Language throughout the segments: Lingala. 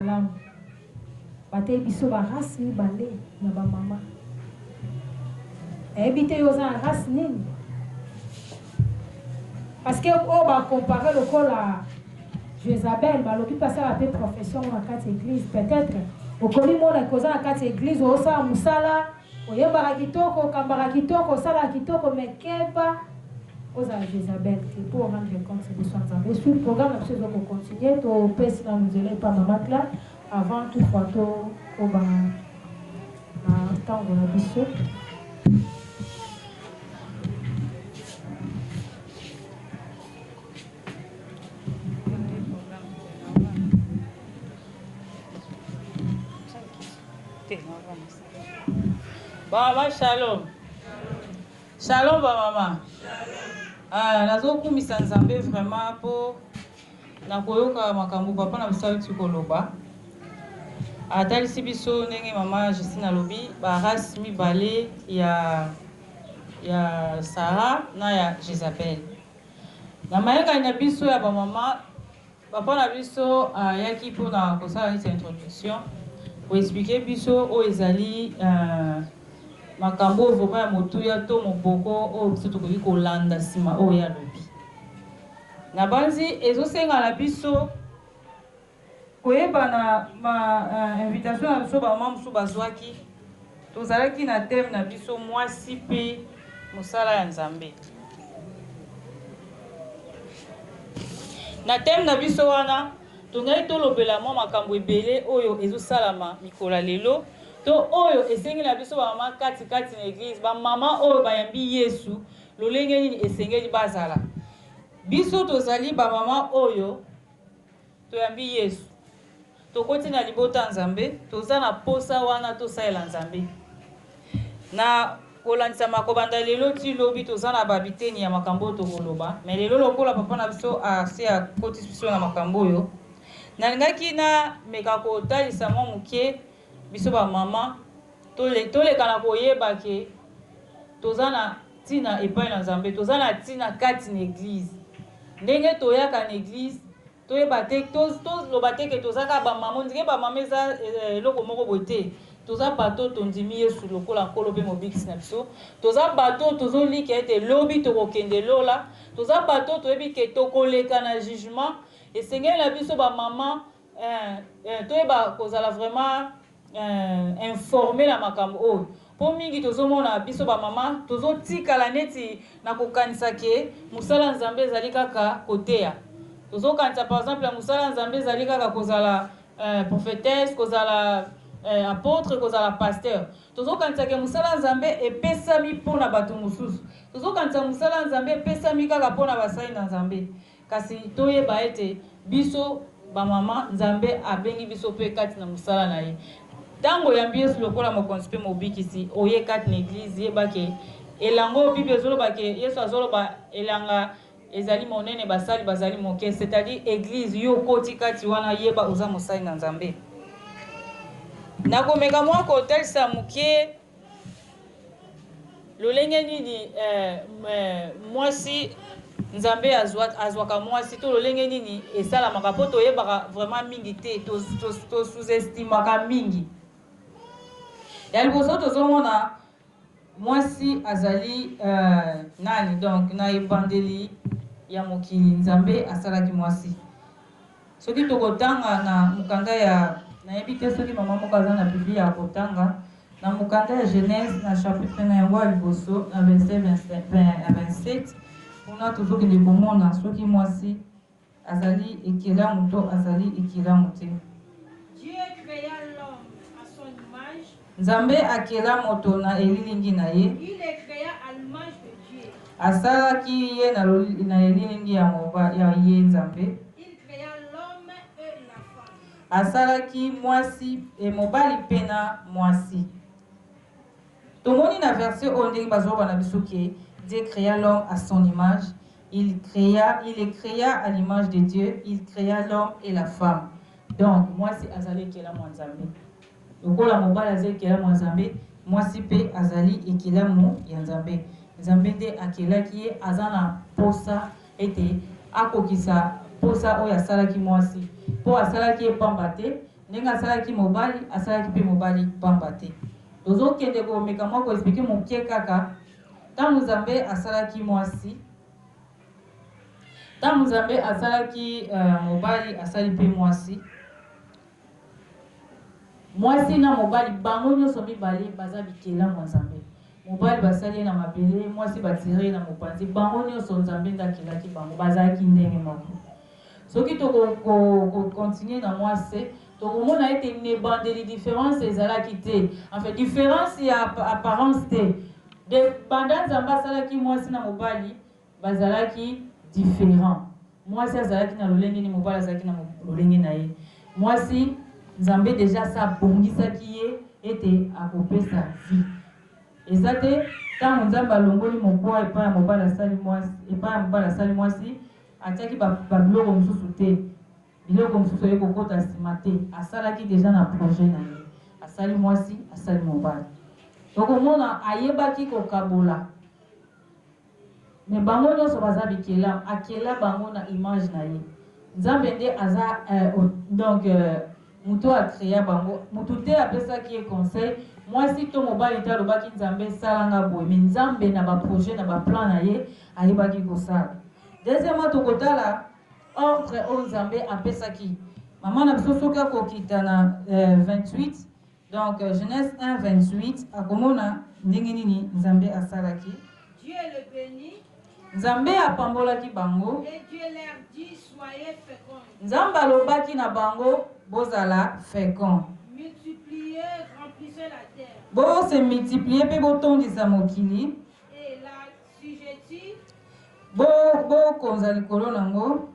malamu bateyi biso ba race mibale ya ba mama nayebi te yo oza na race nini parce que oyo bacompare lokola jezabel balobi mpe asala mpe profession na kati ya église peut-être okomi mona koza na kati ya église osala mosala Oyembaka kitoko, okambaka kitoko, osalaka kitoko mais keba ozala Jezabel te po o rendre compte liboso ya Nzambe. Suite programme na biso ezo ko continuer, to pesi nanu nzela epa mama Cla avant tout fois to koba na tango na biso. Te, no vamos. Ba mama shalom. Shalom ba mama. Ah, nazo kumisa Nzambe vraiment po na koyoka makambo papa na biso awuti koloba. Atalisi biso ndenge mama Justine alobi ba race mibale ya ya Sarah na ya Jezabel. Na mayangani na biso ya ba mama Papa na biso ayaki pona kosala neti introduction, ko expliquer biso oyo ezali makambo oyo vraiment ya motuya to moboko oyo biso tokoki kolanda sima oyo ye alobi. Nabanzi ezosenga na biso koyeba na ba invitation na biso ba mama mosusu bazwaki, Tozalaki na thème na biso Mwasi mpe mosala ya Nzambe. Na thème na biso wana, tongaki tolobela mwa makambo ebele oyo ezosalama mikolo ya lelo to oyo esengi na biso bamama kati kati na eglise, bamama oyo bayambi Yesu, lolenge nini esengeli bazala. Biso tozali bamama oyo Toyambi Yesu. Tokoti na libota ya Nzambe. Toza na posa wana tosalela Nzambe. Na kolandisama kobanda lelo ti lobi toza na ba biteni ya makambo oyo tokoloba. Mais lelo lokola papa na biso asi akotisi biso na makambo oyo, nalingaki na meka kotalisa mwa moke biso ba maman, Tole, toleka na koyeba ke toza na tina epai na Nzambe. Toza na tina kati na eglise. Ndenge toyaka na eglise, toyeba te, to, toloba te ke toza kaka ba mama. Ondire ba mama eza eloko moko boye te. Toza bato oyo tondimi Yesu lokola Nkolo pe Mobikisi na biso. Toza bato oyo tozolika ete lobi tokokende lola. Toza bato oyo toyebi ke tokoleka na jugement. Esengeli na biso ba mama Eeh eeh toyeba kozala vraiment eeh informe na makambo oyo po mingi tozo mona biso ba mama tozo tikala neti na ko kanisa ke musala ya Nzambe ezali kaka koteya tozo kanisa par exemple musala ya Nzambe ezali kaka kozala eeh prophetesse kozala eeh apotre kozala pasteur tozo kanisa ke musala ya Nzambe epesami pona batu mususu tozo kanisa musala ya Nzambe epesami kaka pona basali na Nzambe Kasi toyeba ete biso bamama, Nzambe abengi biso mpe kati na mosala na Ye. Ntango oyambi Yesu lokola Mokonzi mpe Mobikisi, oye kati na Eglise, yeba ke elango, Bible ezoloba ke, Yesu azoloba, elanga ezali monene, basali bazali moke, c'est-à-dire Eglise. Yo okoti kati wana, yeba oza mosali na Nzambe. Nakomeka mwa kotalisa moke. Lolenge nini eh, eh, mwasi nzambe azwaka mwasi to lolenge nini esalamaka mpo toyebaka vraiment mingi te tosuzestimaka mingi ya liboso tozomona mwasi azali uh, nani donc na ebandeli ya mokili nzambe asalaki mwasi Soki tokotanga na mokanda ya. Nayebi te soki mama moko aza na Biblia ya kotanga. Na mokanda ya Genese, na chapitre na yango ya liboso, na verset 26 ya 27, kuna tozokende komona soki mwasi azali ekelamu to azali ekelamu te. Dieu crea l'homme à son image. Nzambe akela moto na elilingi na ye. Il le crea à l'image de Dieu. Asalaki ye na na elilingi ya moba ya ye Nzambe. Il crea l'homme et la femme. Asalaki mwasi e mobali mpe na mwasi. Tomoni na verset oyo ndenge bazoloba na biso ke Dieu crea l'homme à son image. Il crea, il le crea à l'image de Dieu, il crea l'homme et la femme. Donc mwasi azali ekelamo ya Nzambe. Lokola mobali aza ekelamu ya Nzambe, mwasi mpe azali ekelamu ya Nzambe. Nzambe nde akelaki ye, aza na mposa ete akokisa mposa oyo asalaki mwasi, mpo asalaki ye mpamba te, ndenge asalaki mobali, asalaki mpe mobali mpamba te. Tozo kende ko meka mua ko expliquer mukie kaka, tango Nzambe asalaki mwasi, tango Nzambe asalaki mobali, asali mpe mwasi, Mwasi na mobali bango nionso mibale baza bikelamu ya Nzambe. Mobali basali ye na mabele, mwasi batire ye na mopanzi. Bango nionso Nzambe nde akelaki bango, bazalaki ndenge moko. Soki toko ko, ko continuer na mwasi, tokomona ete n'ebandeli difference ezalaki te. Enfin, difference ya apparence te. De banda Nzambe asalaki mwasi na mobali, Bazalaki different. Mwasi azalaki na lolenge ni mobali azalaki na lolenge na ye. Mwasi, Nzambe dejà asi abongisaki ye ete akopesa vie. Eza te tango Nzambe alongoli mokwa epai ya mobali asali mwasi, epai ya mobali asali mwasi, atiaki ba ba biloko mosusu te. Biloko mosusu eye kokota sima te. Asalaki dejà na projet na ye. Asali mwasi, asali mobali. Okomona ayebaki kokabola. Mais bango nionso baza bikelamu akela bango na image na ye nzambe nde aza euh donc euh mutu a crea bango mutu te apesaki ye conseil muasi to mobali te alobaki nzambe sala nga boye mais nzambe na ba projet na ba plan na ye ayebaki kosala deuxièmement tokotala ordre oyo nzambe apesaki maman na biso soki akokita na euh 28 Donc Genese 1 28 akomona ndenge nini Nzambe asalaki. Dieu le beni. Nzambe apambolaki bango. Et Dieu leur dit, soyez fecond. Nzambe alobaki na bango, bozala fecond. Multipliez, remplissez la terre. Bo se multiplier pe botondisa mokili. Et la Bokonza likolo na yango.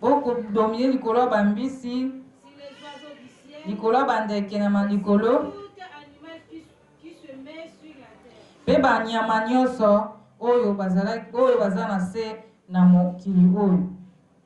Bodomine likolo ya bambisi, likolo ya bandeke na malikolo mpe banyama nyonso oyo baza na se na mokili oyo.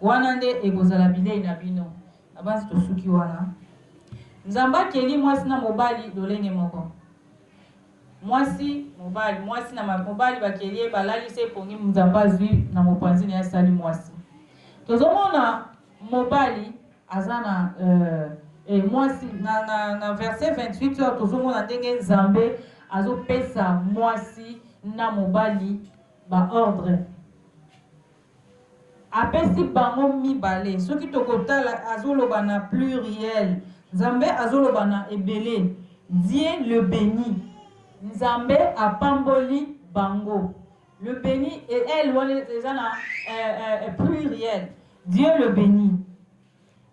Wana nde ekozala bilei na bino. Nabanzi tosuki wana. Nzambe akeli mwasi na mobali lolenge moko. Mwasi, mobali, mwasi na mobali bakeli ye, balalisi ye pongi, Nzambe azwi na mopanzi na ye asali mwasi. Tozomona mobali aza na euh, eh, mwasi na, na, na verse 28 oyo tozomona ndenge Nzambe azopesa mwasi na mobali Ba ordre apesi bango mibale soki tokotala azoloba na pluriel nzambe azoloba na ebele Dieu le beni nzambe apamboli bango le beni et elle wana eza na pluriel Dieu le beni.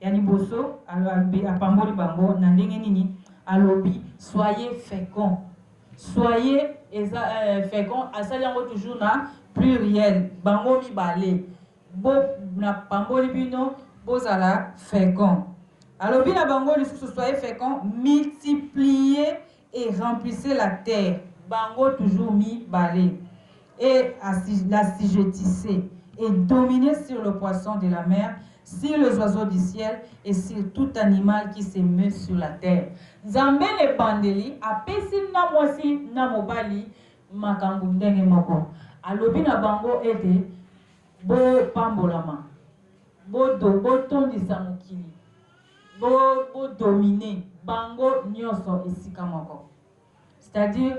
Ya liboso, alobi, apamboli bango. Na ndenge nini? Alobi, Soyez fecond. Soyez eza eh, fecond, asali yango toujours na pluriel, bango mibale. Bo, napamboli bino, bozala fecond. Alobi na bango lisusu, soyez fecond, multipliez et remplissez la terre bango toujours mi bale et l'assujettissez et dominez sur le poisson de la mer, sur les oiseaux du ciel et sur tout animal qui se meut sur la terre. Nzambe na ebandeli apesi na mwasi na mobali makambo ndenge moko. Alobi na bango ete bopambolama, botondisa mokili. Bo bo dominer bango nioso esika moko. C'est à dire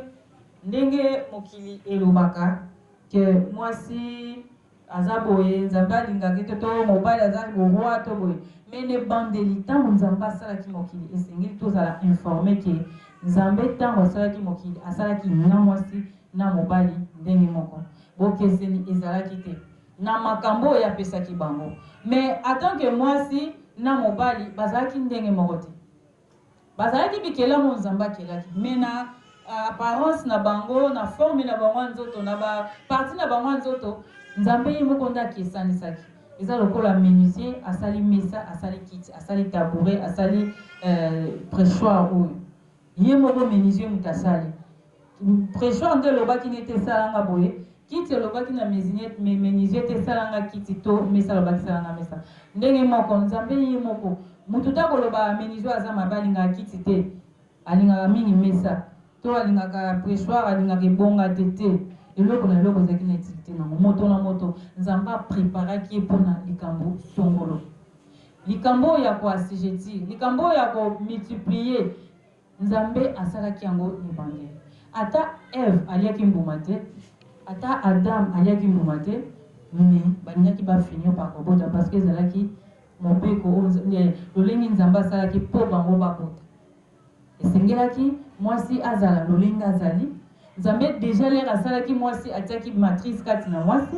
ndenge mokili elobaka que mwasi aza boye Nzambe alingaki te to mobali aza le roi to boye. Mais ne bandeli tango Nzambe asalaki mokili esengeli tozala informer que Nzambe tango asalaki mokili asalaki na mwasi na mobali ndenge moko. Bokeseni ezalaki te. na makambo oyo apesaki bango mais en tant que muasi na mobali bazalaki ndenge moko te bazalaki bikelamu oyo nzambe akelaki mais na apparence na bango na forme na bango ya nzoto na ba partie na bango ya nzoto nzambe ye moko nde akesanisaki eza lokola menuisier asali mesa asali kiti asali tabouret asali euh, pressoir oyo Ye moko menuisier moto asali pression nde elobaki ne te sala nga boye, kiti elobaki na mesinier me menuisier te sala nga kiti to mesa alobaki sala nga mesa ndenge moko nzambe ye moko mutu te akoloba menuisier aza mabe alingaka kiti te alingaka mingi mesa to alingaka pressoir alingaka ebonga te te eloko na eloko ezalaki na utilite nango moto na moto nzambe a preparaki ye pona likambo songolo. Likambo oyo ya ko assujettir, likambo oyo ya ko multiplier, Nzambe asalaki yango na ebandeli. Ata Eve aliaki mbuma te, ata Adam aliaki mbuma te, mais balingaki ba finir par kobota parce que ezalaki mobeko oyo, lolenge Nzambe asalaki po bango babota. Esengelaki mwasi azala lolenge azali. Nzambe dejà lere asalaki mwasi, atiaki matrice kati na mwasi,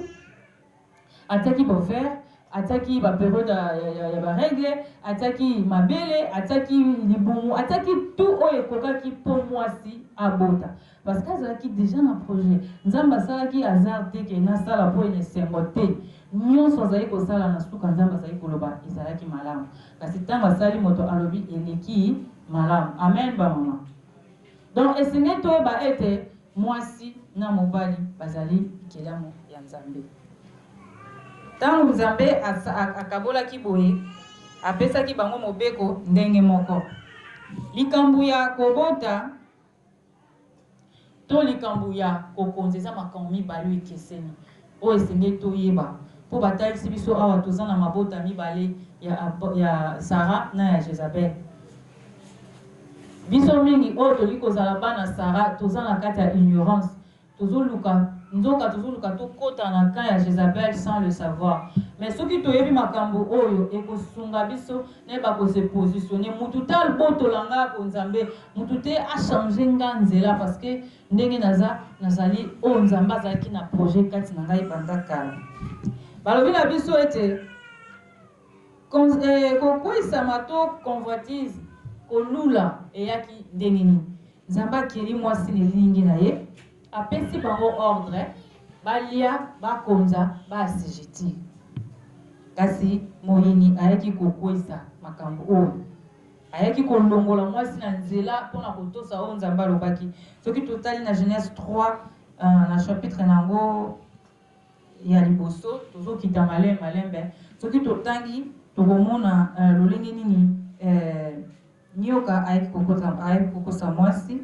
Atiaki ba ovaires, atiaki ba periodes ya ya ba règles, atiaki mabele, atiaki libumu, atiaki tout oyo ekokaki mpo muasi abota. Parce que azalaki dejà na projet. Nzambe asalaki hasard te que nasala mpo ena esengo te. Nionso azali kosala na suka Nzambe azali koloba ezalaki malamu. Kasi tango asali moto alobi eleki malamu. Amen ba maman. Donc, esengeli toyeba ete mwasi na mobali bazali bikelamu ya Nzambe. Ntango Nzambe akabolaki boye, apesaki bango mobeko ndenge moko. Likambo ya kobota to likambo ya kokonza eza makambo mibale oyo ekeseni. Oyo esengeli toyeba, mpo batalisi biso awa toza na mabota mibale ya Apo, ya Sara na ya Jezabel. Biso mingi oyo tolingi kozala bana Sara, toza na kati ya ignorance, tozoluka, nzoka tozoluka tokota na camp ya Jezabel sans le savoir. Mais soki toyebi makambo oyo, ekosunga biso nayeba ko se positionner. Mutu te albotola nga ko Nzambe, mutu te a changer nga nzela, parce que, Ndenge naza, nazali oyo Nzambe azalaki na projet kati na ngai banda kala. Balobi na biso ete kokweisama to convoitise, kolula, eyaki ndenge nini? Nzambe akeli mwasi na elilingi na ye, apesi bango ordre, balia, bakonza, ba assujettir. Kasi moyini ayaki kokweisa makambo oyo. Ayaki kolongola mwasi na nzela mpo na kotosa oyo Nzambe alobaki. Soki totali na Genese 3, na chapitre na yango ya liboso, tozokita malembe malembe, soki totangi, tokomona lolenge nini nyoka ayaki kokosa mwasi.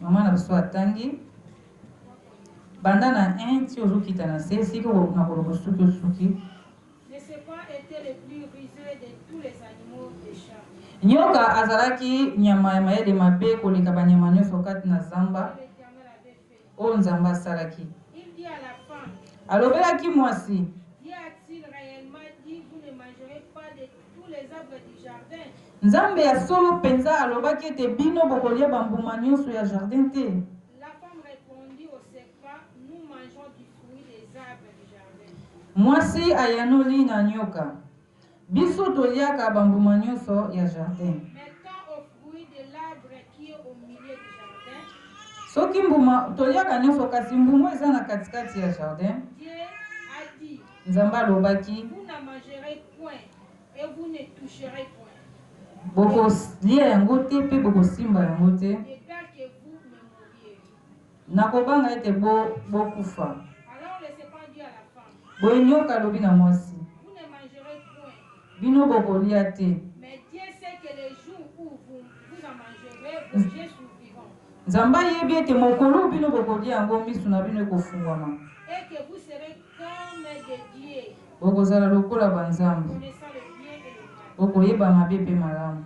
Mama na biso atangi banda na 1 ti ozokita na se, esika nakoloba suki osuki. Ne ce pas etait le plus ruseux de tous les animaux des champs? Nyoka azalaki nyama ya mayele mabe koleka banyama nyonso kati na zamba, Que l'Eternel avait fait? oyo Nzambe asalaki. Il dit à la femme, Alobelaki mwasi, Dieu a-t-il reellement dit, vous ne mangerez pas de tous les arbres du jardin? Nzambe ya solo mpenza alobaki ete bino bokolia bambuma nyonso ya jardin te? Mwasi ayanoli na nyoka, Biso toliaka bambuma nyonso ya jardin. Soki mbuma toliaka nyonso, kasi mbuma eza na katikati ya jardin. Nzambe alobaki, bokolia yango te mpe bokosimba yango te. Nakobanga ete bo, bokufa. Boye nyoka alobi na mwasi, Bino bokolia te. Nzambe ayebi ete mokolo oyo bino bokolia yango, miso na bino ekofungwama. Bokozala lokola banzambe, bokoyeba mabe mpe malamu.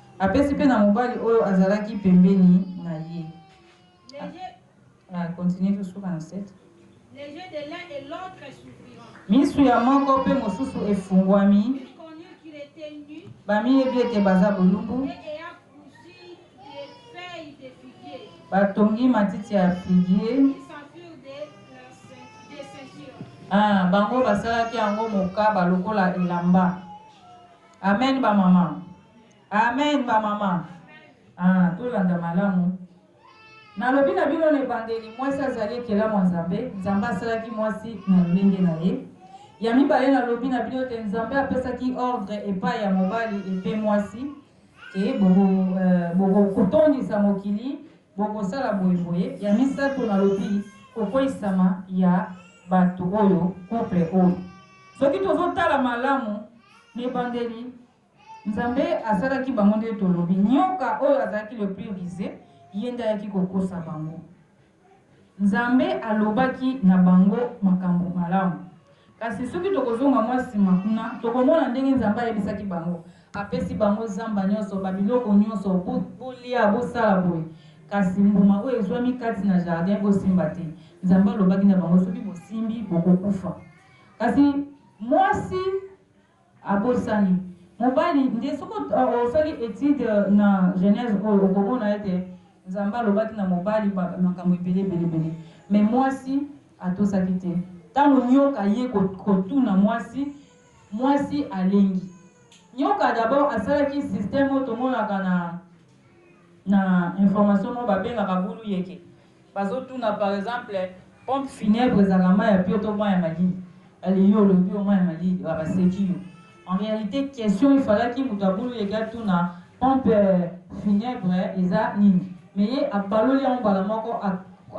Apesi pe na mobali oyo azalaki pembeni na ye. Les yeux. Ah, continue to suka na 7. Les yeux de l'un et l'autre s'ouvriront. Misu ya moko pe mosusu efungwami. Ils connurent qu'il était nu Bamiyebi ete baza bolumbu. et ayant cousu des feuilles de figuier, Batongi matiti ya figie. ils s'en furent des, leurs ceint- des ceintures. Ah, bango basalaki yango mokaba lokola elamba. Amen ba maman. Amen ba maman. Ah, tolanda malamu. Nalobi na bino na ebandeli, mwasi azali ekelamu ya Nzambe. Nzambe asalaki mwasi na lolenge na ye. Ya mibale, nalobi na bino te Nzambe apesaki ordre epai ya mobali epe mwasi e bokotondisa mokili Bokosala boye boye ya misato na lobi kokweyisama ya batu oyo couple oyo soki tozo tala malamu na ebandeli nzambe asalaki bango nde tolobi nyoka oyo azalaki le plus ruse ye nde ayaki kokosa bango Nzambe alobaki na bango makambo malamu. Kasi soki tokozonga mwa nsima kuna, tokomona ndenge Nzambe ayebisaki bango. Apesi bango zamba nyonso, babiloko nyonso, bo, bolia, bosala boye. Kasi mbuma oyo ezwami kati na jardin, bosimba te. Nzambe alobaki na bango, soki bosimbi, bokokufa. Kasi mwasi. Abosani mobali nde soki osali etude na genese oyo okomona ete nzambe alobaki na mobali makambo ebele ebele ebele mais mwasi atosaki te ntango nyoka aye kotuna mwasi mwasi alengi nyoka dabord asalaki systeme oyo tomonaka na Na information moko babengaka bulu yeke bazotuna par exemple pompe funèbre ezalaka mayi ya pio to mayi ya malili ale yo olobi yo mayi ya malili ba baseki yo en realite question efalaki mutu ya bulu yeke atuna pompe funèbre eza nini mais ye abaloli yango mbala moko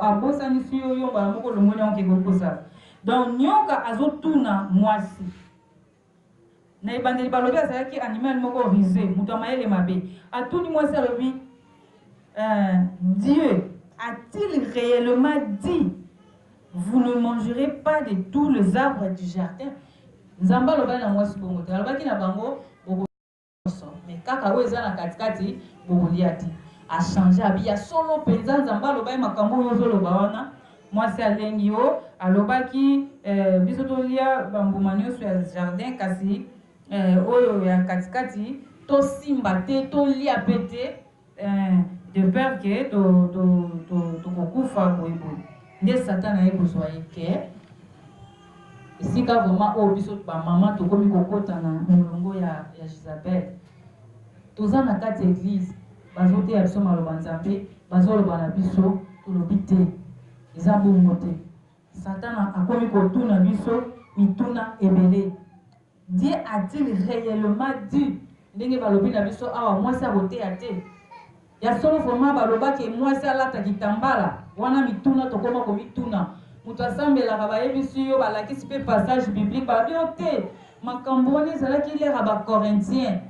abosanisi yo yo mbala moko olongoli yango ke kokosa donc nioka azotuna muasi Na ebandeli balobi azalaki animal moko rusee, moto ya mayele mabe. Atuni mwasi alobi, Euh, Dieu a-t-il reellement dit vous ne mangerez pas de tous les arbres du jardin? Nzambe alobaki na mwasi bongo te, alobaki na bango nionso mais kaka oyo eza na kati kati bokolia te a change abi ya solo penza nzambe aloba ye makambo oyo ozo loba wana mwasi alengi yo alobaki eh, biso tolia bambuma nionso ya jardin kasi eh, oyo ya kati kati tosimba te tolia pe te Eeh de peur que to to to toko kufa boye boye nde satan aye kozua ye kee esika vraiment oyo biso ba maman tokomi kokota na molongo ya ya jizabel toza na kati ya eglise bazo teya biso maloba nzambe bazo loba na biso tolobi te eza bongo te satan akomi kotuna biso mituna ebele Dieu a-t-il reellement dit ndenge balobi na biso awa mwasi akoteya te? Ya solo vraiment baloba ke mwasi alata kitambala? Wana mituna tokoma komituna. Moto asambelaka bayebisi yo, balakisi pe passage biblique balobi yo te makambo wana ezalaki l'heure ya ba Corinthiens.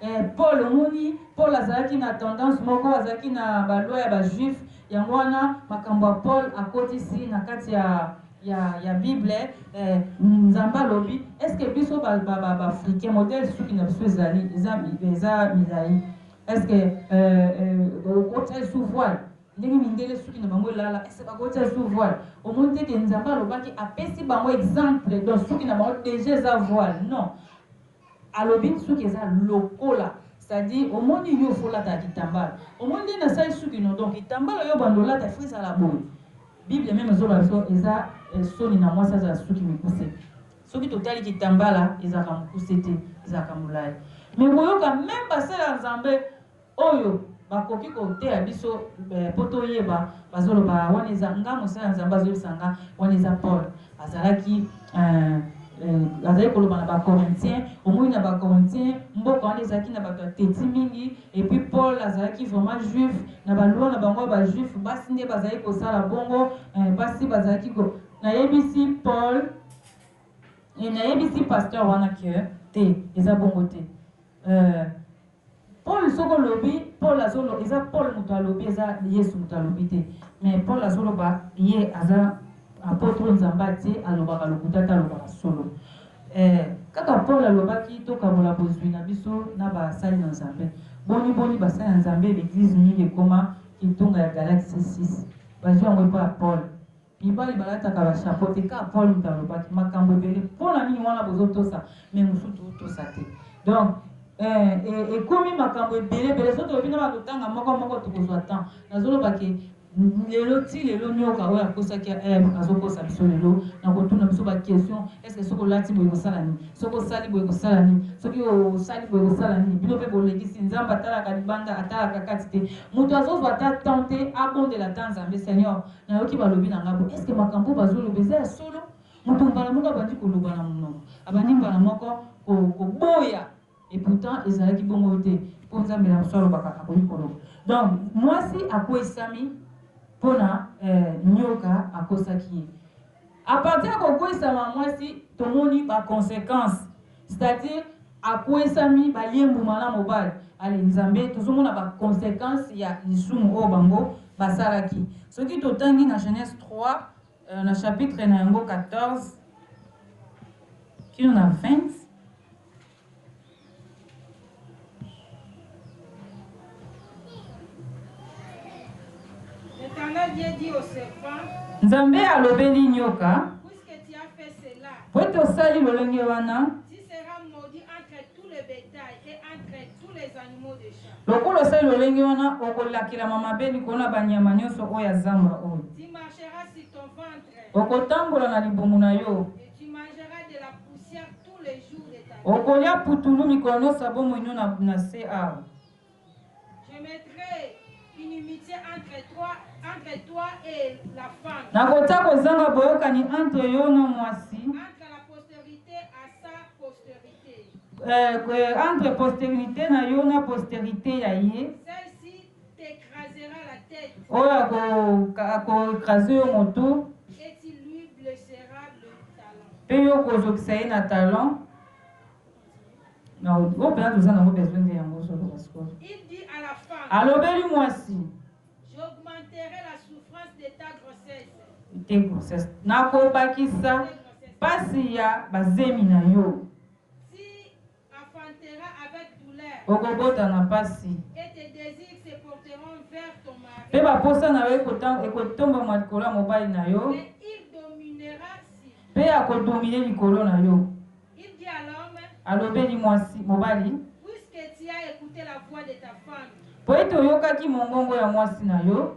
Eh Paul omoni Paul azalaki na tendance moko azalaki na ba loi ya ba juif yango wana makambo ya Paul akotisi na kati ya ya ya bible eh nzambe alobi est ce que biso ba ba ba africain modèle suki na biso ezali eza eza milayi est ce que eh eh okotia lisusu voile ndenge mindele suki na bango elala est ce que bakotia lisusu voile omoni te ke nzambe alobaki apesi bango exemple donc suki na bango deja eza voile non Alobi suki eza lokola c'est à dire omoni yo faut olataka kitambala omoni ndenge nasali suki no donc kitambala oyo obanda olata faut ezala boye bible meme ezoloba biso eza soni na mwasi azala suki mikuse soki totali kitambala ezalaka mokuse te ezalaka molayi mais koyoka meme basali ya nzambe Oyo bakoki koteya biso po toyeba bazoloba wana eza nga mosali ya nzambe azoyebisa nga wana eza paul azalaki eh, azali koloba na bacorinthien omoni na bacorinthien mboka wana ezalaki na bato ya teti mingi epuis paul azalaki vraiment juif na balwa na bango ya bajuif basi nde bazali kosala bongo eh, basi bazalaki ko nayebisi paul eh, nayebisi pasteur wana ke te eza bongo te eh, Paul soki olobi Paul azolo eza Paul mutu alobi eza yesu mutu alobi te mais Paul azoloba ye aza apotre nzambe atie alobaka lokuta te alobaka solo eh kaka Paul alobaki tokabola bozui na biso na ba sali na nzambe boni boni ba sali na nzambe l'eglise mingi ekoma kitunga ya galaxie 6 bazui yango epa ya Paul Mibali balataka ba chapeau te kaka Paul mutu alobaki makambu ebele pona nini wana bozo tosa mais mususu to tosa te donc eh ekomi makambu ebele ebele soki tolobi naba kotanga moko moko tokozwa temps nazo loba ke lelo ti lelo nioka oyo akosaki eh azo kosa biso lelo na kotuna biso ba question est ce soki olati boye kosala nini soki osali boye kosala nini soki osali boye kosala nini bino pe bolekisi nzambe atalaka libanda atalaka kati te mutu azozwa ata temps te abondela ata nzambe seigneur Nayoki balobi na nga boye est-ce que makambo oyo bazo loba eza ya solo? Moto mbala moko abandi koloba na monoko, abandi mbala moko ko koboya et pourtant ezalaki bongo te po Nzambe na biso alobaka akoki koloba. Donc mwasi akweyisami pona eh, nyoka akosaki ye. A partir ya kokweisama ya mwasi, tomoni ba consequences, c'est à dire akweisami, balie mbuma na mobali. Allez, Nzambe, tozomona ba consequences ya lisumu oyo bango basalaki. Soki totangi na Genese 3, na chapitre na yango 14 kino na 20, Nzambe alobeli nyoka, po ete osali lolenge wana, lokola osali lolenge wana, okolakelama mabe likolo na banyama nyonso oyo ya zamba oyo. Okotambola na libumu na yo. Okolia putulu mikolo nionso ya bomoi no na na se awa. Nakotia kozanga boyokani entre yo na mwasi, eh, eh, entre posterite na yo na posterite ya ye. Oyo ako ecraser yo mutu. Pe yo oko zokisa ye na talon. Na oyo pena toza nango besoin nde yango ozo loba sikoyo. Alobeli mwasi. Te grossesse. Nako bakisa pasi ya bazemi na yo. Okobota na mpasi, mpe baposa na yo ekotombama likolo ya mobali na yo, mpe akodomine likolo na yo. Alobeli mwasi mobali, mpo ete oyokaki mongongo ya mwasi na yo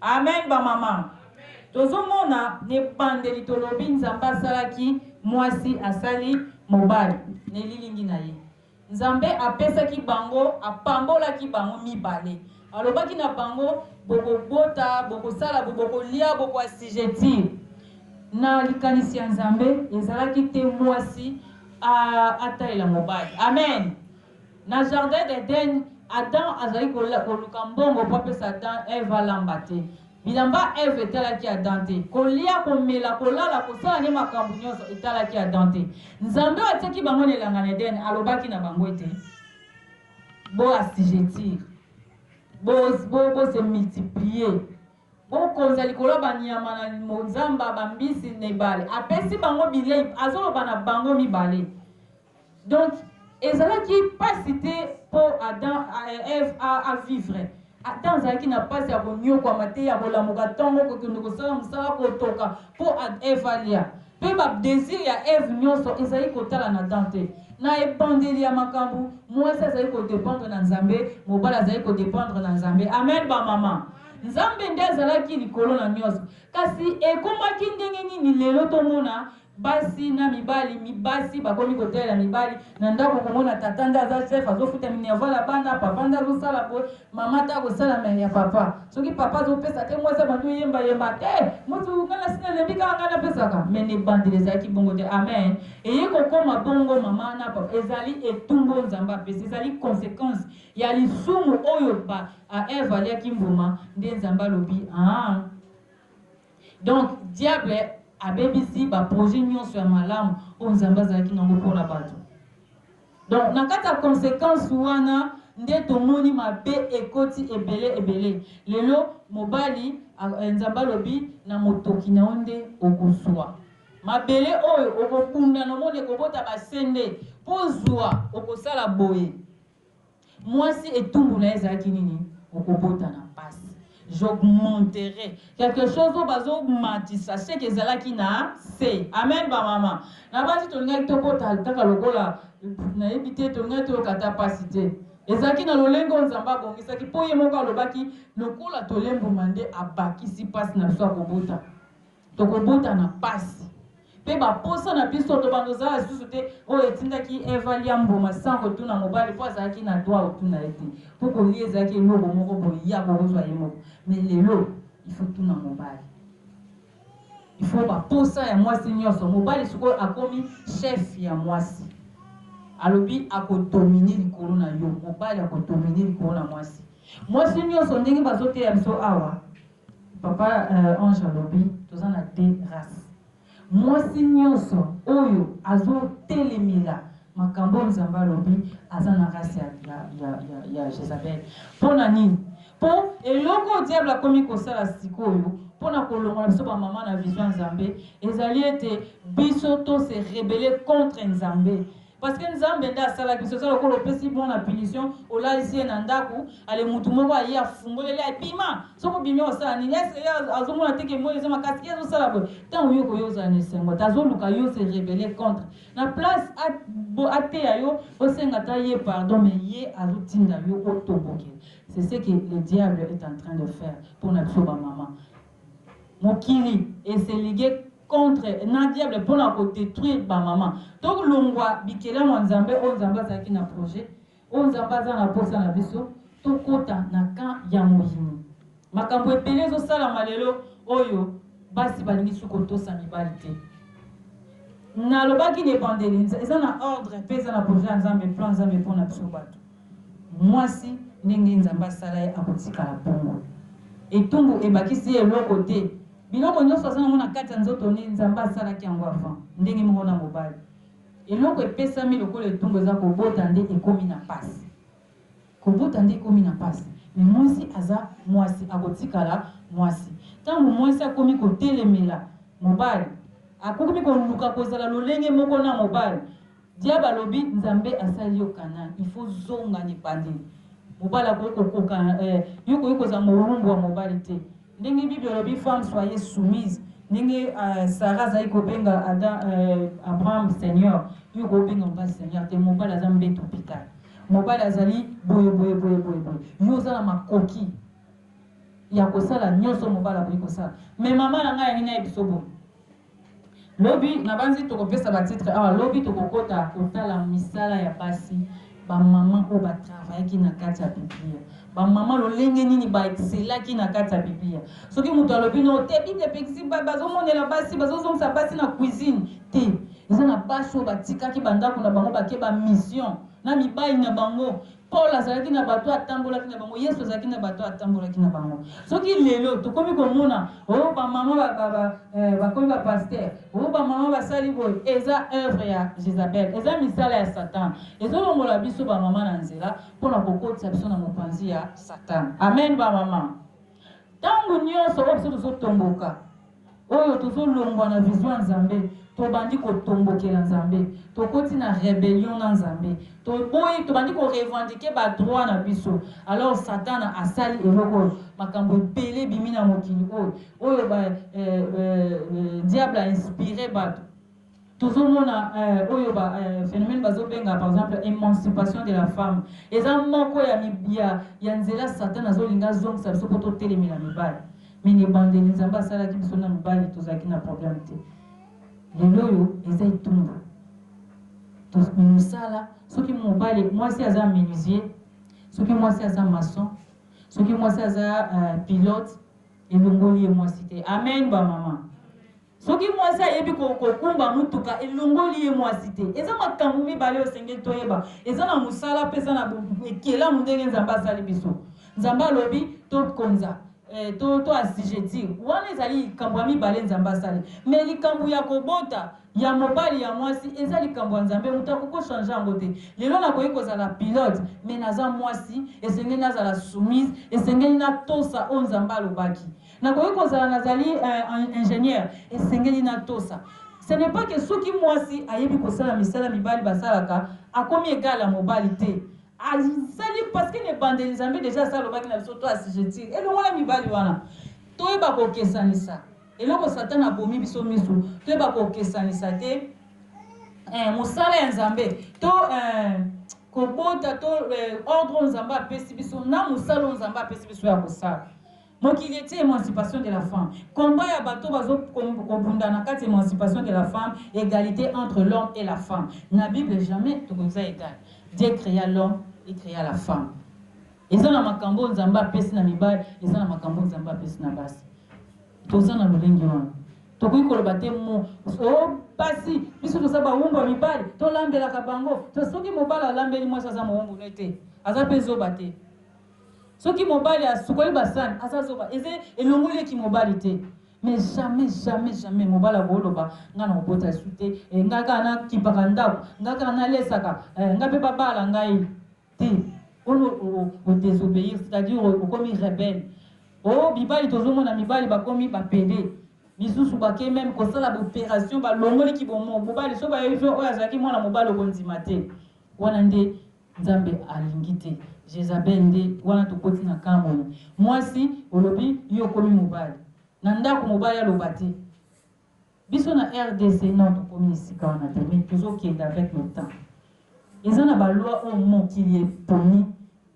Amen ba maman tozo mona n'ebandeli tolobi nzambe asalaki muasi asali mobali n'elilingi na ye nzambe apesaki bango apambolaki bango mibale alobaki na bango bokobota bokosala bo bokolia boko asijetir na likanisi ya nzambe ezalaki te muasi atalela mobali amen Na jardin d'Eden, Adam azali koluka mbongo mpo apesa Adam, Eve alamba te. Bilamba Eve etalaki Adam te. Kolia, komela, kolala, kosala nde makambo nyonso etalaki Adam te. Nzambe oyo atiaki bango na elanga na Eden alobaki na bango ete, Bo assujettir, bo, bo, bo se multiplier, bokonza likolo ya banyama na zamba, bambisi na ebale. Apesi bango bilei, azoloba na bango mibale. Donc ezalaki pasi te po Adam et Eve a vivre. Adam azalaki na pasi ya koniokwama te, ya kolamuka tongo, kokende kosala mosala, kotoka po Eve alia. Pe ba desir ya Eve nionso ezalaki kotala na Adam te. Na ebandeli ya makambo, muasi azalaki ko dependre na Nzambe, mobali azalaki ko dependre na Nzambe. Amen ba mama. Nzambe nde azalaki likolo na nionso. Kasi ekomaki ndenge nini lelo tomona Basi na mibali mi basi bakomi kotalela mibali na ndaku okomona tata nde aza chef azo futa minerval ya bana papa nde azo sala boye maman ata akosala mais ya papa soki papa azo pesa te mwasi abandi oyemba yemba te mutu nga nasi na lembi kaka nga na pesaka mais na ebandeli ezalaki bongo te amen eye kokoma bongo maman na papa ezali etumbu oyo nzambe apesi ezali consequence ya lisumu oyo ba a Eve aliaki mbuma nde nzambe alobi aah Donc diable abebisi ba projets nionso ya malamu oyo Nzambe azalaki na yango mpo na bato. Donc na kati ya consequence wana nde tomoni mabe ekoti ebele ebele. Lelo mobali Nzambe alobi na motoki na yo nde okozua mabele oyo okobunda na omoni ekobota ba sende mpo ozua okosala boye. Mwasi etumbu naye ezalaki nini? Okobota na pasi. J'augmenterai quelque chose oyo bazo matisa ce que ezalaki na se. Amen ba mama. Na basi tolingaki tobota kaka lokola nayebi te tolingaki toyoka ata pasi te. Ezalaki na lolenge oyo Nzambe abongisaki po ye moko alobaki lokola tolembuma nde abakisi pasi na biso ya kobota. Tokobota na pasi pe ba posa na biso tobanda ozala lisusu te oyo etindaki Eva alia mbuma sans kotuna mobali po azalaki na droit ya kotuna ye te po kolia ezalaki eloko moko boye ye akokozwa ye moko mais lelo il faut tuna mobali il faut ba posa ya mwasi nionso mobali sikoyo akomi chef ya mwasi alobi akodomine likolo na yo mobali akodomine likolo na mwasi mwasi nionso ndenge bazoteya biso awa Papa ange alobi toza na deux race muasi nionso oyo azo telemela makambo oyo nzambe alobi aza na race ya ya ya ya ya jezabel pona nini po eloko oyo diable akomi kosala sikoyo pona kolongola biso ba maman na vision ya nzambe ezali ete biso to se rebele contre nzambe Parce que nzambe nde asala biso eza lokola opesi mwana punition olalisi ye na ndaku ale mutu moko aye afungoleli aye bima soki obimi osala nini est ce que ye azomona te ke moi eza makasi ye azosala boye ntango yo koyo ozala na esengo te azoluka yo se rebelle contre na place ateya yo osenga ta ye pardon mais ye azotinda yo otoboke c'est ce que le diable est en train de faire mpo na biso ba maman Mokili e se liguer contre na diable pona ko detruire ba maman. To longua bikelamu ya Nzambe oyo Nzambe azalaki na projet, oyo Nzambe aza na posa na biso to kota na camp ya moyimi. Makambo ebele ezo salama lelo oyo basi ba lingi su ko tosa mibali te. Na lobaki na ebandeli eza na ordre pe eza na projet ya Nzambe, plan ya Nzambe pona biso batu. Mwasi, ndenge Nzambe asala ye, akotikala bongo. Etumbu ebakisi ye eloko te. Biloko nyonso aza na yango na kati ya nzoto ne, Nzambe asalaki yango avant. Ndenge moko na mobali. Eloko epesami lokola etumbu eza kobota nde ekomi na pasi. Kobota nde ekomi na pasi. Mais mwasi aza mwasi, akotikala mwasi. Tango mwasi akomi kotelemela mobali, akomi koluka kozala lolenge moko na mobali, Diable alobi nzambe asali yo canal il faut zonga na ebandeli mobali akoki kokoka eh yo okoki kozala mowumbu ya mobali te ndenge bible olobi femme soyez soumise ndenge eh, Sarah azali kobenga Adam eh, Abraham seigneur yo okoki kobenga mobali seigneur te mobali aza mbeto hopital mobali azali boye boye boye boye boye yo oza na makoki ya kosala nyonso mobali akoki kosala me mama na ngai yangi nayebiso boye Lobi nabanzi tokopesa ba titre awa lobi tokokota kotala misala ya basi ba maman oyo ba travaillaki na kati ya biblia ba maman lolenge nini ba excelaki na kati ya biblia soki mutu alobi noo te bible epekisi bazomonela basi bazozongisa basi na cuisine te eza na basi oyo batikaki ba ndaku na bango bake ba mission na mibali na bango Paul azalaki na bato oyo atambolaki na bango, Yesu azalaki na bato oyo atambolaki na bango. Soki lelo tokomi komona oh ba mama ba ba ba eh, bakomi ba pasteur, oh ba mama basali boye, eza œuvre ya Jezabel, eza misala ya Satan. Ezolongola biso ba mama na nzela mpo na kokotisa biso na mopanzi ya Satan. Amen ba mama. Tango nyonso oyo biso tozotomboka Oyo tozo longwa na vision ya Nzambe, to bandi ko tombokela Nzambe, to koti na rebellion na Nzambe, to boyi, to bandi ko revendiquer ba droits na biso, alors satana a sali eloko oyo, makambo ebele ebimi na mokili oyo, oyo ba eh, eh, eh, diable a inspirer batu. Tozo mona eh, oyo ba eh, phenomène bazo benga par exemple emancipation de la femme eza moko ya ya, ya nzela Satan azo linga azongisa biso po to telemela mibali. Mais ne bandeli Nzambe asalaki biso na mibali tozalaki na problème te. Lelo oyo eza etumbu. Mosala soki mobali mwasi aza menuisier, soki mwasi aza maçon, soki mwasi aza uh, pilote elongoli ye mwasi te. Amen ba mama. Soki mwasi ayebi ko kokumba mutuka elongoli ye mwasi te. Eza makambu mibale oyo esengeli toyeba. Eza na musala pe eza na ekelamu ndenge Nzambe asali biso. Nzambe alobi to konza eh, to to assujettir. Wana ezali likambu ya mibale Nzambe asali. Mais likambu ya kobota ya mobali ya mwasi eza likambu ya Nzambe mutu akoki ko changer yango te. Lelo nakoki kozala pilote mais naza mwasi esengeli nazala soumise, esengeli natosa oyo Nzambe alobaki. Nakoki kozala nazali eh, ingenieur, esengeli natosa. Ce n'est pas que soki mwasi ayebi kosala misala mibali basalaka, akomi egal ya mobali te. Azali parce que na ebandeli Nzambe deja asa alobaki na biso to assujettir elongo na mibali wana. Toyeba kokesanisa. Eloko Satana abomi biso miso, toyeba kokesanisa te eh, mosala ya Nzambe to eh, kobota to eh, ordre oyo Nzambe apesi biso na mosala oyo Nzambe apesi biso ya kosala. Mokili etie emancipation de la femme combat ya bato bazo kobunda na kati emancipation de la femme egalite entre l'homme et la femme na bible jamais tokoza egal Dieu crea l'homme et crea la femme eza na makambo nzambe apesi na mibali eza na makambo nzambe apesi na basi toza na lolenge wana tokoki koloba te mo o basi biso toza bawumbu ya mibali tolambelaka bango to soki mobali alambeli mwasi aza mowumbu ne te aza mpe zoba te Soki mobali asukoli ba sani aza zoba eza elongoli ye ki mobali te mais jamais jamais jamais mobali akoloba nga na kobota esu te eh, nga kaka na kipaka ndako nga kaka na lesaka eh, nga pe babala ngai te ono o désobéir c'est-à-dire okomi rebelle o oh, bibali tozomona mibali bakomi bapede misusu bake meme kosala baopération balongoli ki bomobali so bayebi oyo azalaki mwana mobali okondima te wana nde Nzambe alingi te jezabel nde wana tokoti na camp oyo muasi olobi yo okomi mobali na ndaku mobali aloba te biso na rdc non tokomi esika wana te mais tozo kende avec le temps eza na ba loi oyo mokili eponi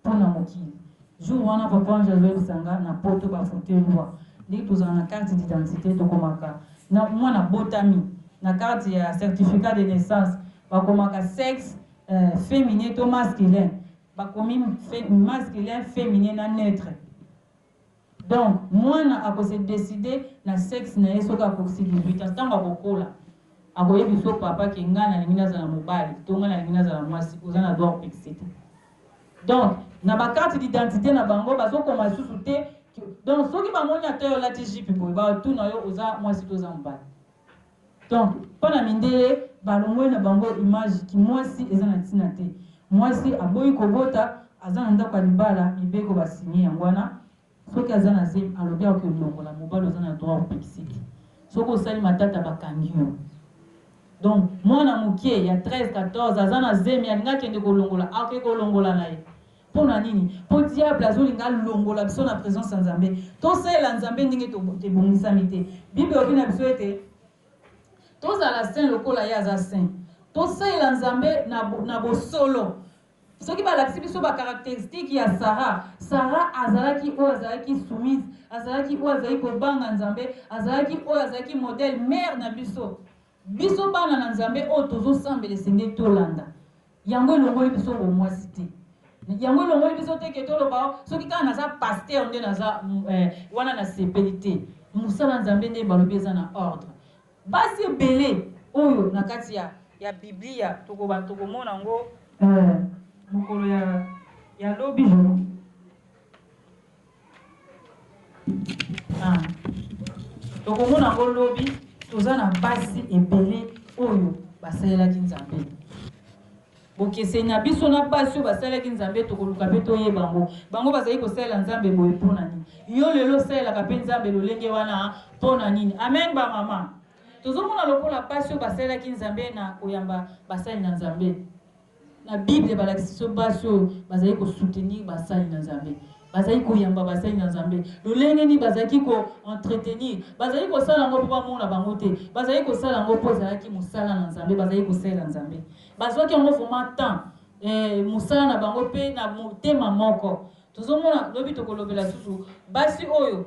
pona mokili jour wana papa ange azoyebisa nga na poto ba faute loi ndenge tozala na carte d'identité tokomaka na mwana abotami na carte ya certificat de naissance bakomaka sexe Eh, feminin to masculin? Bakomi fe, masculin, feminin na neutre. Donc, mwana ako se decider na sexe na ye soki akokisi 18 ans. Tango akokola, akoyebi so papa ke nga nalingi nazala mobali to nga nalingi nazala mwasi, oza na droit opekisete. Donc, na ba carte d'identité na bango bazokoma lisusu te donc soki bamoni ata yo olati jipe boye batuna yo oza mwasi to oza mobali Donc pona mindele balongoli na bango image ki muasi eza na tina te muasi aboyi kobota aza na ndaku ya libala mibeko ba signe yango wana soki aza na zemi alobi akoki olongola mobali oza na droit opekisiki soki osali matata bakangi yo donc muana mukie ya 13 14 aza na zemi alingi akende kolongola akoki kolongola na ye Pona nini? Po diable azolinga alongola biso na presence ya Nzambe. Tosalela Nzambe ndenge tobongisami te. Bible elobi na biso ete tozala saint lokola ye aza saint. Tosalela Nzambe na bosolo. Soki balakisi biso ba caracteristiques ya Sara, Sara azalaki oyo azalaki soumise, azalaki oyo azalaki kobanga Nzambe, azalaki oyo azalaki modèle, mère na biso. Biso bana na Nzambe oyo tozo sambela esengeli tolanda yango elongoli biso bomuasi te yango elongoli biso te ke toloba oh soki kaka naza pasteur nde naza eh, wana nasepeli te mosala Nzambe nde balobi eza na ordre basi ebele oyo na kati ya ya Biblia tokoba tokomona ngo eh, mokolo ya ya lobi Ah. Tokomona yango lobi, toza na basi ebele oyo basalelaki Nzambe. Bokeseni na biso na basi oyo basalelaki Nzambe tokoluka mpe toyeba yango. Bango bazali kosalela Nzambe boye mpo na nini? Yo lelo osalelaka mpe Nzambe lolenge wana mpo na nini? Amen ba mama. Tozomona lokola basi oyo basalelaki Nzambe na koyamba basali na Nzambe. Na Bible, balakisi biso basi oyo bazalaki ko soutenir basali na Nzambe, bazalaki koyamba basali na Nzambe. Lolenge nini bazalaki ko entretenir? Bazalaki kosala yango mpo bamona bango te, bazalaki kosala yango mpo ezalaki mosala na Nzambe, bazalaki kosalela Nzambe. Bazwaki yango vraiment temps, eh, mosala na bango mpe na motema moko. Tozomona lobi tokolobela susu basi oyo.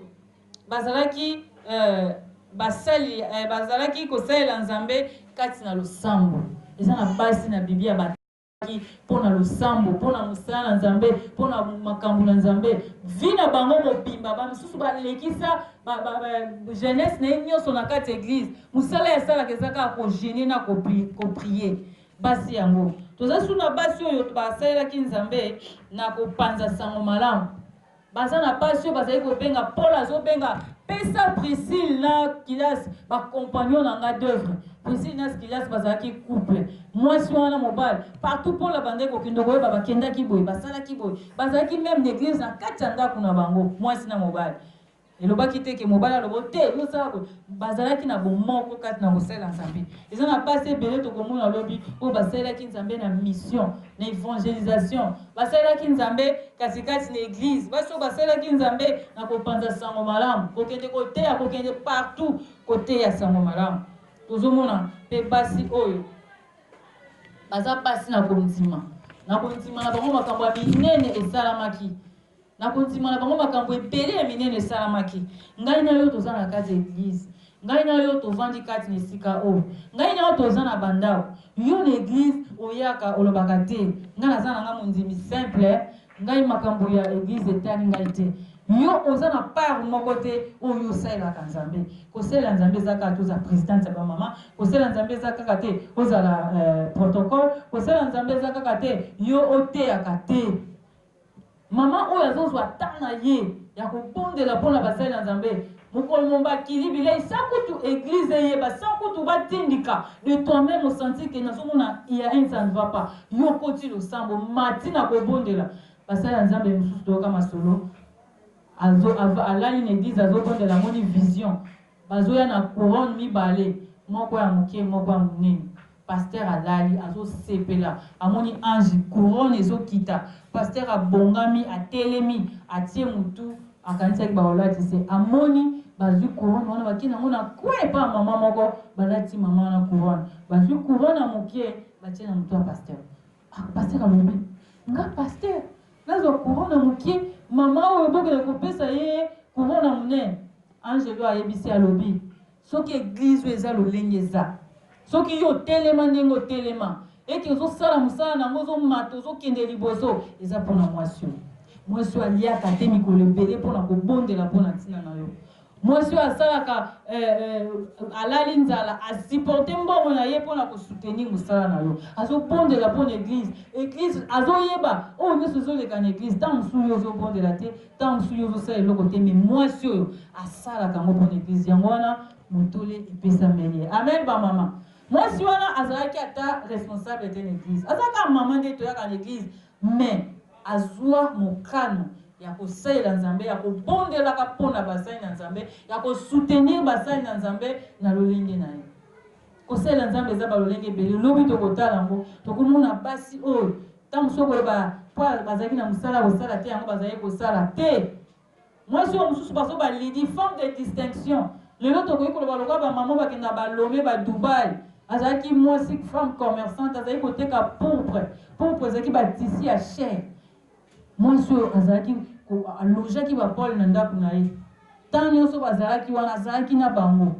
Bazalaki eh, basali eh, bazalaki kosalela Nzambe kati na losambo. Eza na basi na Biblia ba mpo na losambo mpo na mosala na nzambe mpo na makambo na nzambe vi na bango mobimba bamosusu balekisa jeunesse na ye nyonso na kati ya eglize mosala yasalaka eza kaka kogene na koprie basi yango toza su na basi oyo basalelaki nzambe na kopanza sango malamu Baza na pasi oyo bazali kobenga Paul azobenga pesa Priscille na Kilas ba compagnons na nga d'œuvre. Priscille na Kilas bazalaki couple. Mwasi wana mobali partout Paul abandaki kokende koyeba bakendaki boye basalaki boye bazalaki meme n'eglise na kati ya ndako na bango mwasi na mobali. Elobaki te ke mobali alobo te yo sala boye. Bazalaki na bomoko kati na kosalela Nzambe. Eza na basi ebele tokomona lobi oyo basalelaki Nzambe na mission, na evangelisation. Basalelaki Nzambe kati kati na eglise. Basi oyo basalelaki Nzambe na kopanza sango malamu, kokende koteya, kokende partout koteya sango malamu. Tozomona pe basi oyo baza basi na kondima, na kondima na bango makambo ya minene esalamaki. Na kondima na bango, makambo ebele ya minene esalamaki. Ngai na yo toza na kati ya eglise. Ngai na yo tovandi kati na esika oyo. Ngai na yo toza na ba ndako. Yo na eglise oyaka olobaka te, ngai naza na ngai mondimi simple, ngai makambo ya eglise etali ngai te. Yo oza na part moko te oyo yo osalelaka Nzambe. Kosalela Nzambe eza kaka te ozala presidente ya ba mama, kosalela Nzambe eza kaka te ozala eh, protocole, kosalela Nzambe eza kaka te yo oteyaka te. Maman oyo azo zwa temps na ye ya ko bondela po na basali na Nzambe mokolo momba kili bileyi sans kutu eglise eyeba sans kutu ba tindika de toi meme o sentir que nazo mona il ya un ça ne va pas yo okoti losambo omati na ko bondela basali ya Nzambe mosusu toyoka masolo azo alali na eglise azo bondela amoni vision Bazoya na couronne mibale moko ya muke moko ya munene pasteur alali azo sepela amoni ange couronne ezo kita pasteur abongami atelemi atie mutu akanisaki bako lati se amoni bazui couronne wana bake nango na coin epa maman moko balati maman wana couronne bazui couronne ya muke batie na mutu ya pasteur Ah pasteur alobi nga pasteur nazwa courant na mukie maman oyo bokende kopesa ye courant na munene angelo ayebisi alobi soki eglise oyo eza lolenge eza soki yo otelema ndenge otelema ete ozosala mosala na yango ozomata ozokende liboso eza mpona mwasi oyo mwasi oyo aliaka te mikolo ebele mpona kobondela mpona ntina na yo Mwasi oyo asalaka eh, eh, alali nzala asupporte mbongo na ye mpo na kosoutenir mosala na yo, azobondela mpo na eglise. Eglise azoyeba oyo nyonso ezoleka na eglise. Ntango mosusu yo ozobondela te, ntango mosusu yo ozosala eloko te, me mwasi oyo asalaka yango mpo na eglise. Yango wana motole epesameli ye. Amen, bamama. Mwasi wana azalaki ata responsable te na eglise, azalaka mama nde toyaka na eglise Mais azua mokano ya kosalela Nzambe, ya kobondelaka po na basali na Nzambe, ya ko soutenir basali na Nzambe na lolenge na ye. Kosalela Nzambe eza ba lolenge ebele, lobi tokotala yango. Tokomona basi oyo tango mosusu okoloba po bazalaki na mosala ya kosala te yango bazalaki kosala te, Mwasi oyo mususu bazo ba Lydie femme de distinction lelo tokoki koloba lokola ba maman bakendaka ba Lome ba Dubaï azalaki mwasi femme commerçante azalaki koteka pourpre pourpre ezalaki ba tissu ya cher mwasi oyo azalaki alojaki ba pole na ndako na ye temps nionso bazalaki wana azalaki na bango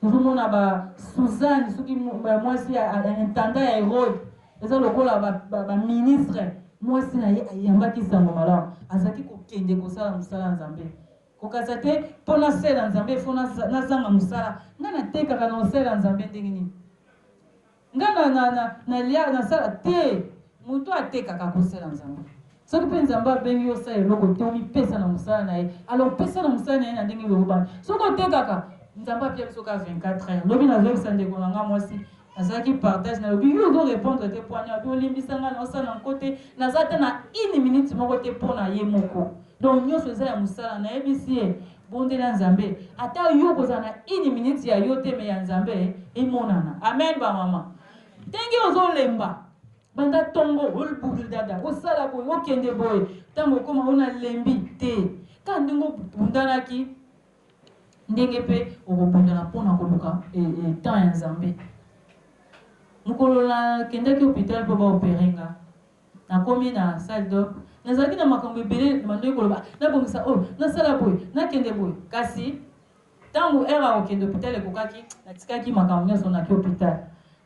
Tozo mona ba Suzanne soki mwasi ya intendant ya Herode eza lokola ba ministre mwasi na ye ayambaki sango malamu azalaki kokende kosala mosala ya Nzambe kokasa te po nasela Nzambe il faut nazanga mosala nga natekaka na osela Nzambe ndenge nini Nga na na na na lia na sala te mutu atekaka ako sela nzambe soki pe nzambe abengi yo osala eloko te omi pesa na musala na ye alors pesa na musala na ye na ndenge elobani soki otekaka nzambe apia biso ka 24 heure lobi na zoyebisa ndeko na nga mwasi nazalaki partage na lobi yo ozo repondre te po ania obi olimbisa nga na osala na nko te naza ata na une minute moko te po na ye moko donc nionso eza ya musala na yebisi ye Bondela nzambe ata yo okozala na une minute ya yo te mais ya nzambe emonana amen ba maman ndenge ozo lemba banda tongo olbulu dada osala boye okende boye ntango okoma ona lembi te ka ndenge obundanaki ndenge mpe okobundana mpo na koluka e, e, temps ya nzambe mokolo nakendaki hopital mpo baopere nga Nakomi na salle d'or, nazalaki na makambo ebele nabandoki koloba nabongisa oyo, nasala boye, nakende boye. Kasi tango heure ya kokende hopital ekokaki, natikaki makambo nionso naki hopital.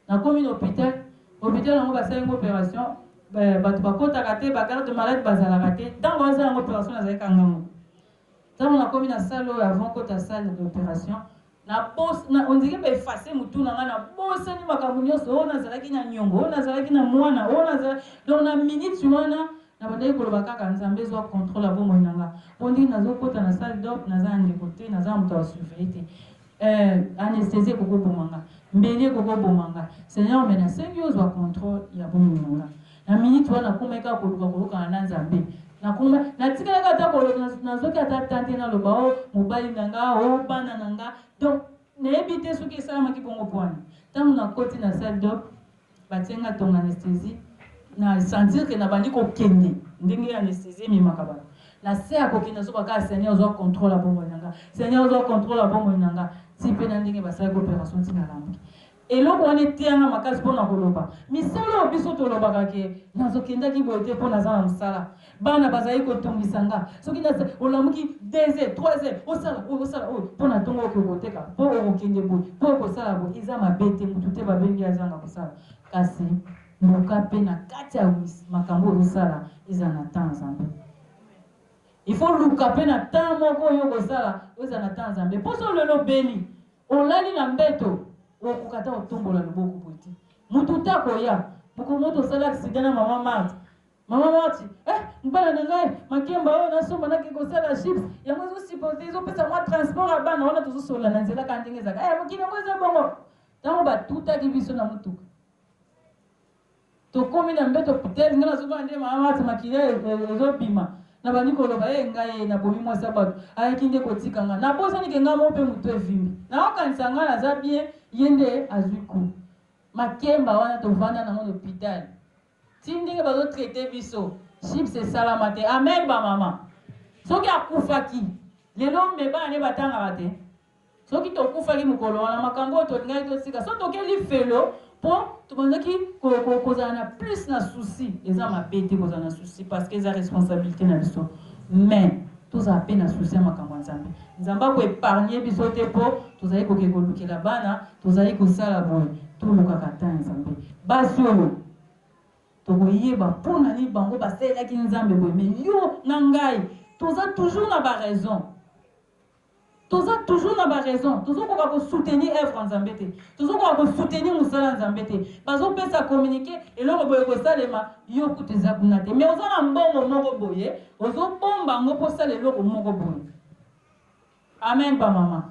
Nakomi na hopital, hopital yango basali nga operation, batu bakotaka te, ba gardes malades bazalaka te, tango basalanga operation nazalaki kanga yango Tango na komi na salle oyo avant kota salle d'operation na bos na on dirait ba effacer mutu na nga na bosani makambo nionso oyo na zalaki na niongo oyo na zalaki na muana oyo na zalaki donc na minute wana na bandaki koloba kaka nzambe zua controle ya bomoi na nga on dirait na zo kota na salle d'op naza na ndeko te naza na moto a ba surveiller te Eh anesthesie ekoki koboma nga mbeli ekoki koboma nga seigneur me nasengi ozwa controle ya bomoyi na nga na minute wana nakomaki kaka koluka koyokana na nzambe nakoma natikalaki ata koloka nazoki ata tante naloba o oh, mobali na nga o oh, bana na nga donc nayebi te soki esalamaki bongo pwani ntango nakoti na salle dop Batie nga tonga anesthesie na sentir que na bandi ko kende ndenge anesthesie ememaka batu na se ya ko kende nazo ba kaka seigneur zua controle ya bomoi na nga seigneur zua controle ya bomoi na nga ti pe na ndenge ba salaki operation ti na lamuki. Eloko wana eteya nga makasi pona ko loba misala oyo biso to lobaka que nazo kendaki boye te po naza na musala Bana bazali kotungisa nga. Soki na olamuki deux heures, trois heures, osala oyo, osala oyo, po na tongo okoki koteka, po okokende boye, po okosala boye. Eza mabe te, mutu te babengi ye azanga kosala. Kasi luka pe na kati ya makambo oyo ozosala, ezala na temps ya Nzambe. Il faut luka pe na temps moko oyo okosala, ezala na temps ya Nzambe. Po soki lelo obeli, olali na mbeto, okokoka ata kotombola loboko boye te. Mutu te akoya. Mokolo moko tosali accident na mama Marthe, Maman Marti, eh, mobala na ngai, makemba oyo na somba nake kosala chips, yango ezo supporte, ezo pesa mwa transport ya bana wana tozo solola na nzela kaka ndenge ezaka. Eh, mokili yango eza bongo. Tango ba tutaki biso na mutuka. Tokomi na mbeto peut-être nga nazo bana nde maman Marti makila ezo bima. Na bandi koloba eh ngai na bomi mwasi ya bato. Ayaki nde kotika nga. Na bosa nike nga mo pe mutu evimi. Na okanisa nga naza bien, ye nde azui coup. Makemba wana tovanda na ngo na hôpital. Ti ndenge bazo traite biso chips esalama te amen ba maman soki akufaki lelo me bana ne batangaka te soki tokufaki mokolo wana makambo oyo tolingaki tosika so tokeli felo mpo tobandaki kozala na plus na souci eza mabe te kozala na souci parce que eza responsabilité na biso mais Tozala pe na souci ya makambo ya Nzambe. Nzambe ako epargner biso te po tozali koke kolukela bana, tozali kosala boye, tolukaka temps ya Nzambe. Basi oyo, tokoyeba po na nini bango basalelaki Nzambe boye, mais yo na ngai, toza toujours na ba raisons. Toza toujours na ba raison tozo koka ko soutenir œuvre ya nzambe te tozo koka ko soutenir musala ya nzambe te bazo pesa communique eloko boye eko salema yo kutu eza kuna te mais oza na mbongo moko boye ozo bomba yango po osala eloko moko boye amen ba mama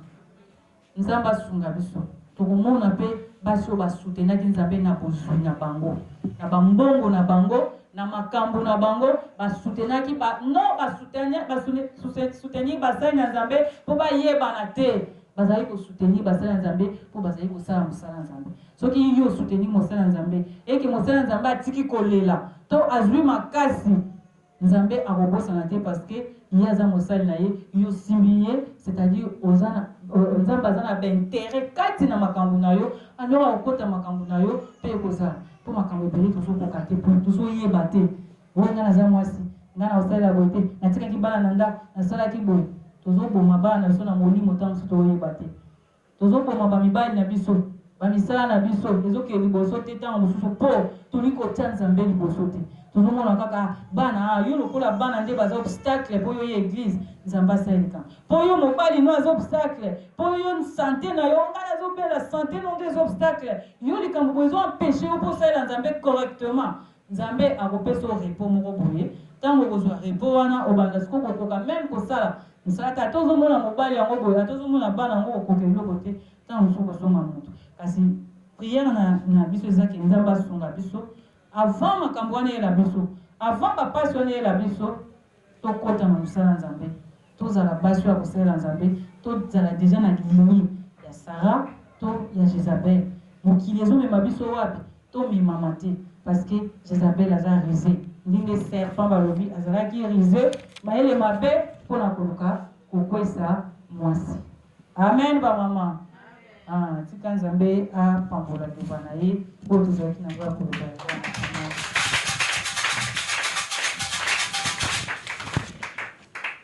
nzambe asunga biso tokomona pe basi oyo ba soutenaki nzambe na bozui na bango na ba mbongo na bango Na makambu na bango, ba soutenaki ba non ba soutenir ba soutenir basali na Nzambe po ba yebana te. Bazali ko soutenir basali na Nzambe po bazali kosala mosala na Nzambe. Soki yo o soutenir mosali na Nzambe et que mosali na Nzambe atiki kolela to azui makasi, Nzambe akobosana te parce que ye aza mosali na ye, yo osimbi ye, c'est à dire oza na Nzambe aza na ba interets kati na makambu na yo, alors akokota makambu na yo pe ekozala. po makambo ebele tozokoka te pona tozoyeba te oyo ngai naza mwasi ngai nakosalela boye te natikaki bana na ndako nasalaki boye tozoboma bana na biso na molimo ntango mosusu toyeba te tozoboma bamibali na biso bamisala na biso ezokende liboso te ntango mosusu mpo tolingi kotya nzambe liboso te tozomona kaka bana ah, yo lokola bana nde baza obstacle mpo yo ye eglise nzambe asalelika Po yo mobali no aza obstacle po yo sante na yo nga nazo bela sante no nde eza obstacle yo likambo boye ezo empecher yo po osalela nzambe correctement nzambe akopesa yo repos moko boye tango okozua repos wana obanda sikoyo kokoka meme kosala mosala te ata ozo mona mobali yango boye ata ozo mona bana yango okokoka eloko te tango mosusu okozonga moto kasi prière na, na biso eza ke nzambe asunga biso avant makambo wana eyela biso avant bapasi wana eyela biso Tokota na mosala ya Nzambe, tozala basi oyo ya kosalela Nzambe, tozala dejà na lignee ya Sarah to ya Jezabel. Mokili ezo mema biso wapi? Tomemama te parce que Jezabel aza rusee, ndenge serpent balobi azalaki rusee, mayele mabe mpo na koluka kokwesa mwasi. Amen ba maman ah tika nzambe a pambola liloba na ye oyo tozalaki na yango ya koloba yango wana